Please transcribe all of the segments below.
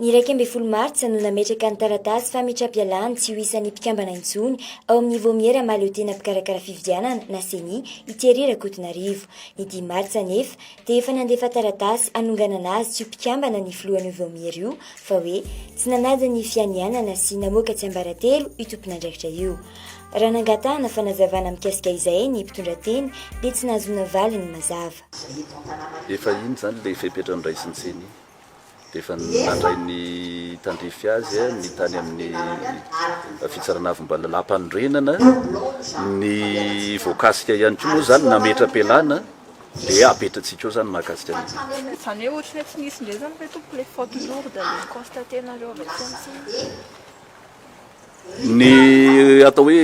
Ny iraika ambin'ny folo martsa no nametraka ny taratasy fametra-pialany tsy ho isan'ny mpikambana intsony ao amin'ny Vaomiera Mahaleotena Mpikarakara Fifidianana na CENI i Thierry Rakotonarivo. Ny dimy martsa anefa dia efa nandefa taratasy hanonganana azy tsy ho mpikambana ny filohan'io Vaomiera io fa hoe tsy nanaja ny fianianana sy namoaka tsiambaratelo io tompon'andraikitra io. Raha nangatahana fanazavana mikasika izay ny mpitondrateny dia tsy nahazoana valiny mazava. Efa iny izany ilay fepetra noraisin'ny ceni. Dia efa nandray ny tandrify azy ny tany amin'ny fitsarana avim-ba lalàmpanorenana. Ny voakasika ihany koa moa izany nametra-pialàna dia apetratsika eo izany mahakasika an'io. Izany hoe ohatry ny hoe tsy nisy indray izany ve tompoko ilay faute lourde le ni-constater-nareo avy aty amintsika? Ny atao hoe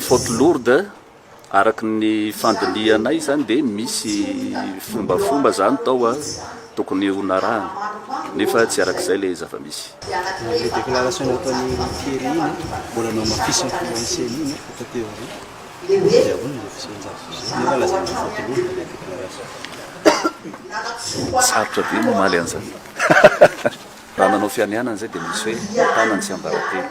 faute lourde Araka ny fandinihanay izany dia misy fombafomba izany tao a, tokony ho narahana nefa tsy araka izay ilay zava-misy. Ilay déclaration nataon'i Thierry iny a, mbola nohamafisin'ny filohan'ny ceni iny aho taty aoriana, dia ahoana ilay fisehoan-javatra izay nefa lazain'ny mpivoaka loha ilay déclaration. Sarotra be ny mamaly an'izany. Raha nanao fianianana izay dia misy hoe tanana tsy ambara-tena.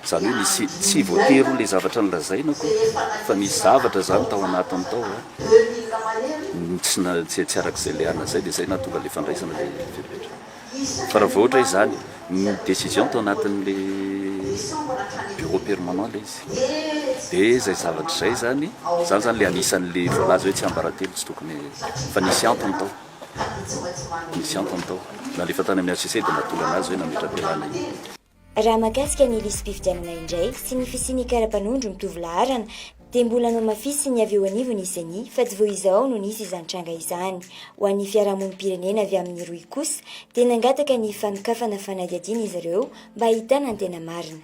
Zany hoe misy tsy voatery ho le zavatra nolazaina ko fa nisy zavatra zany tao anatiny tao a tsy tsy arak'izay le ana zay de zay nahatonga le fandraisana le fepetra fa raha vao ohatra hoe zany ny décision tao anatin'le bureau permanent le izy de zay zavatra zay zany zany zany le anisan'le voalaza hoe tsiambaratelo tsy tokony fa nisy antony tao nisy antony tao nalefa tany amin'ny HCC de nahatonga anazy hoe nametra-pialana iny. Raha mahakasika ny lisi-pifidianana indray sy ny fisian'ny kara-panondro mitovy laharana dia mbola nohamafisin'ny avy eo anivon'ny Ceni fa tsy vao izao no nisy izany tranga izany. Ho an'ny fiarahamonim-pirenena avy amin'ny rohy kosa dia nangataka ny fanokafana fanadihadiana izy ireo mba hahitana ny tena marina.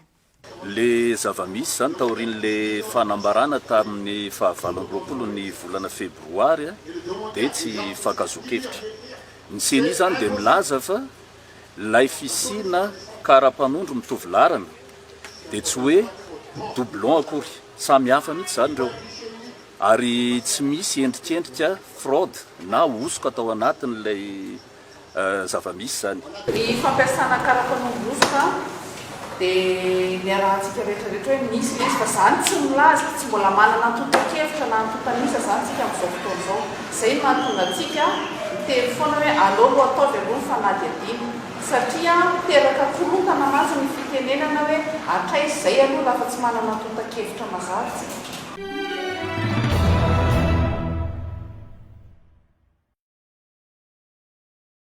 Ilay zava-misy izany taorian'ilay fanambarana tamin'ny fahavalo amby roapolo ny volana febroary dia tsy hifankazoan-kevitra. Ny Ceni izany dia milaza fa Ilay fisiana kara-panondro mitovy laharana dia tsy hoe doublon akory, samy hafa mihitsy izany ireo ary tsy misy endrikendrika fraude na hosoka tao anatin'ilay zava-misy izany. Ny fampiasana kara-panondro hosoka Dia ny arahantsika rehetra rehetra hoe misy ve izy fa zany tsy milaza, tsy mbola manana antontan-kevitra na antontan'isa izany tsika amin'izao fotoana izao. Izay no mahatonga antsika miteny foana hoe aleo aloha ataovy aloha ny fanadihadiana. Satria miteraka korontana mantsy ny fitenenana hoe hatraiza izay aloha raha fa tsy manana antontan-kevitra mazava isika.